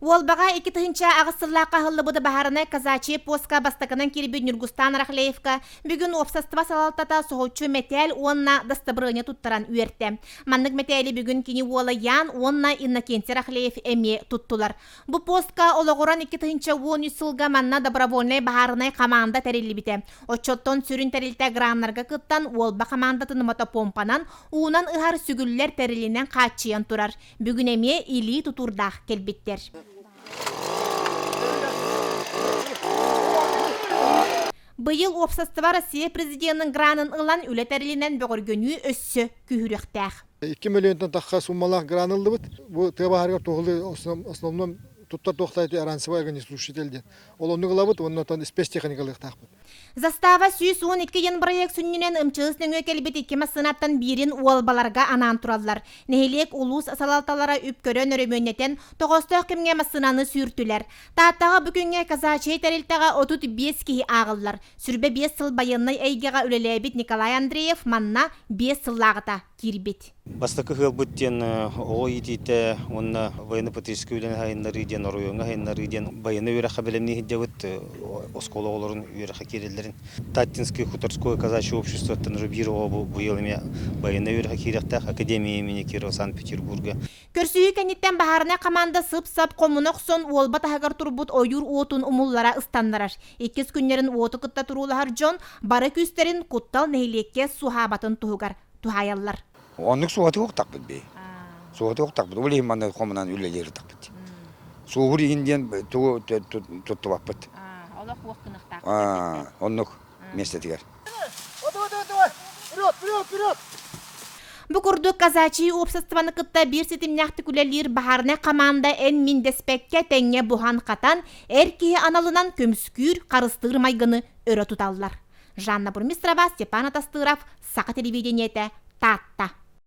Уолбаҕа икки тыһыынча аҕыс сыллаахха аһыллыбыт баһаарынай казачье постка бастакынан кирбит Ньургустаан Арахлеевка бүгүн уопсастыба салалтата соһуччу мэтээл уонна дастабырыанньа туттаран үөртэ. Маннык мэтээли бүгүн кини уола Ян уонна Иннокентий Арахлеев эмиэ туттулар. Бу постка олоҕуран икки тыһыынча уон үс сылга манна добровольнай баһаарынай хамаанда тэриллибитэ. Оччоттон сүрүн тэрилтэ граннарга кыттан уолба хамаандатын мотопомпанан уунан ыһар сүгүллэр тэрилинэн хааччыйан турар. Бүгүн эмиэ илии тутуурдаах кэлбиттэр. Быйыл уопсастыба Россия президенин гранын ылан үлэ тэрилинэн бөҕөргөнүү өссө күһүрүөхтээх. 2 миллионтан тахха суммалаах гран ыллыбыт. Бу тыа баһаарыгар туһулуй основном туттар туохтайты аранцевая огнеструшитель диэн Ол оннук ылабыт уонна оттон испэс тиэхиньикэ ылыахтаахпыт. Застава сүүс уон икки йын бырайыак сүнньүнэн ымчыгыс нөҥүө кэлбит икки массыынаттан биирин уолбаларга анаан тураллар. Нэһилиэк, улуус салалталара үп көрөн өрөмүөннэтэн, тоҕоостоох кэмҥэ массыынаны сүүртүлэр. Тааттаҕа бу күҥҥэ казачьай тэрилтэҕэ отут биэс киһи ааҕыллар. Сүрбэ биэс сыл байыаннай эйгэҕэ үлэлээбит Николай Андреев манна биэс сыллааҕыта. киирбит. Бастакы ыһыалбыт диэн оҕо иитиитэ уонна военно-потребительскай үлэни сайыннарыы диэн оройуоҥҥа сайыннарыы диэн байыаннай үөрэххэ бэлэмнии сылдьабыт. Оскуола оҕолорун үөрэххэ киирэллэрин Таттинское хуторское казачье обществоттан Рубирова быйыл эмиэ байыаннай үөрэххэ киириэхтээх, академия имени Кирова Санкт-Петербурга Көрсүһүү кэнниттэн баһаарынай хамаанда сып-сап хомуна охсон уолба таһыгар турбут ойуур уотун умуллара ыстаннарар. Иккис күннэрин уоту кытта туруулаһар дьон бары күүстэрин Куттал нэһилиэккэ суһаабатын туһугар туһаайаллар. Оннук суоты уктахпыт би. Суоты уктахпыт. Ол иһин маны хомунан үлэлииртахпыт. Суубур иһин диэн туттубаппыт. Олох уох кынахтаах. Оннук. миэстэтигэр. Бу курдук казачий уопсастыбаны кытта биир ситимнээхтик үлэлиир баһаарынай хамаанда эн мин дэспэккэ тэҥҥэ буһан-хатан, эр киһи аналынан көмүскүүр, харыстыыр майгыны өрө туталлар. Жанна Бурмистрова, Степан Атастыров, Саха телевидениетэ, Таатта.